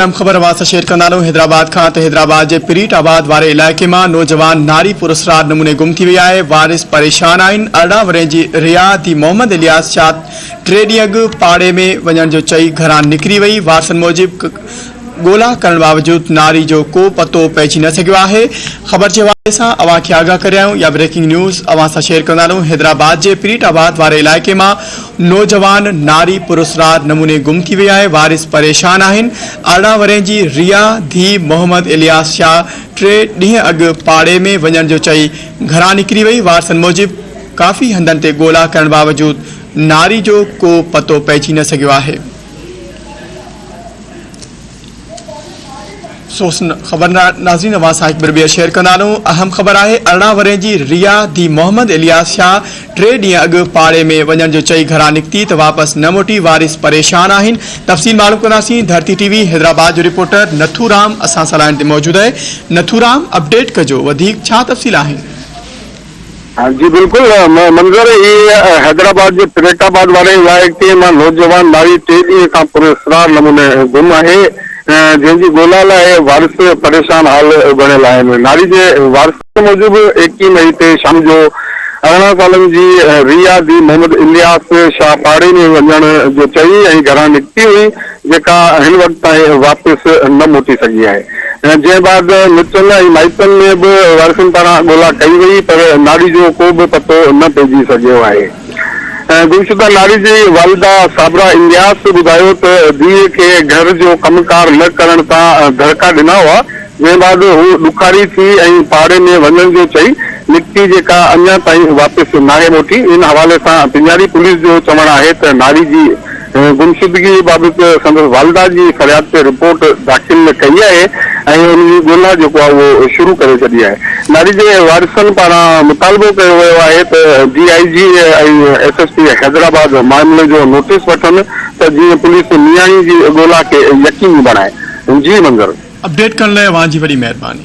اهم خبر واسطه شيئر ڪندا هلون حيدرآباد کان ته حيدرآباد جي پريٽ آباد واري علائقي مان نوجوان ناري پراسرار نموني گم ٿي وئي آهي وارث پريشان آهن ارڙهن ورهين جي ريا ڌي محمد الياس شاهه ٽي ڏينهن اڳ پاڙي ۾ وڃڻ جو چئي گهران نڪري وئي وارثن موجب ڳولا ڪرڻ باوجود ناري جو ڪو پتو پئجي نه سگهيو آهي خبر جي حوالي سان اوهان کي آگاهه ڪريايون يا بريڪنگ نيوز اوهان سان شيئر ڪندا هلون حيدرآباد جي پريٽ آباد واري علائقي مان نوجوان ناري پراسرار نموني گم ٿي وئي آهي، وارث پريشان آهن، ارڙهن ورهين جي ريا ڌيء محمد الياس شاهه ٽي ڏينهن اڳ پاڙي ۾ وڃڻ جو چئي گهران نڪري وئي، وارثن موجب ڪافي هنڌن تي ڳولا ڪرڻ باوجود ناري جو ڪو پتو پئجي نه سگهيو آهي. سوسن خبر نازين اوهان سان هڪ ڀيرو ٻيهر شيئر ڪندا هلون اهم خبر آهي ارڙهن ورهين جي ريا ڌي محمد الياس شاهه ٽي ڏينهن اڳ پاڙي ۾ وڃڻ جو چئي گهران نڪتي ته واپس نه موٽي وارث پريشان آهن تفصيل معلوم ڪنداسين ڌرتي ٽي وي حيدرآباد جو رپورٽر نٿو رام اسان سان لائين تي موجود آهي نٿو رام اپڊيٽ ڪجو وڌيڪ ڇا تفصيل آهن جي بلڪل منظر هي حيدرآباد جي پريٽ آباد واري علائقي مان نوجوان مائي ٽي ڏينهن کان پر اسرار نموني گم آهي جنهن جي ڳولا لاء وارث پريشان حال بڻيل آهن ناري جي وارثن موجب ايڪيهه مئي تي شام جو ارڙهن سالن جي ريا ڌي محمد الياس شاهه پاڙي ۾ وڃڻ جو چئي ۽ گهران نڪتي هئي جيڪا هن وقت تائين واپس نه موٽي سگهي آهي. جنهن بعد مٽن ۽ مائٽن ۾ به وارثن پاران ڳولا ڪئي وئي پر ناڙي جو ڪو به پتو نه پئجي سگهيو آهي. گمشده ناڙي جي والده صابره الياس ٻڌايو ته ڌيء کي گهر جو ڪم ڪار نه ڪرڻ تان دڙڪا ڏنا هئا، جنهن بعد هو ڏکاري ٿي ۽ پاڙي ۾ وڃڻ جو چئي نڪتي جيڪا اڃا تائين واپس ناهي موٽي، ان حوالي سان پنجاري پوليس جو چوڻ آهي ته ناري جي گمشدگي بابت سندس والده جي فرياد تي رپورٽ داخل ڪئي آهي ۽ ان جي ڳولا جيڪو آهي اهو شروع ڪري ڇڏي آهي ناري جي وارثن پاران مطالبو ڪيو ويو آهي ته D I G ۽ S S P Hyderabad معاملي جو نوٽيس وٺن ته جيئن پوليس نياڻي جي ڳولا کي يقيني بڻائي جي منظر اپڊيٽ ڪرڻ لاء اوهان جي وڏي مهرباني.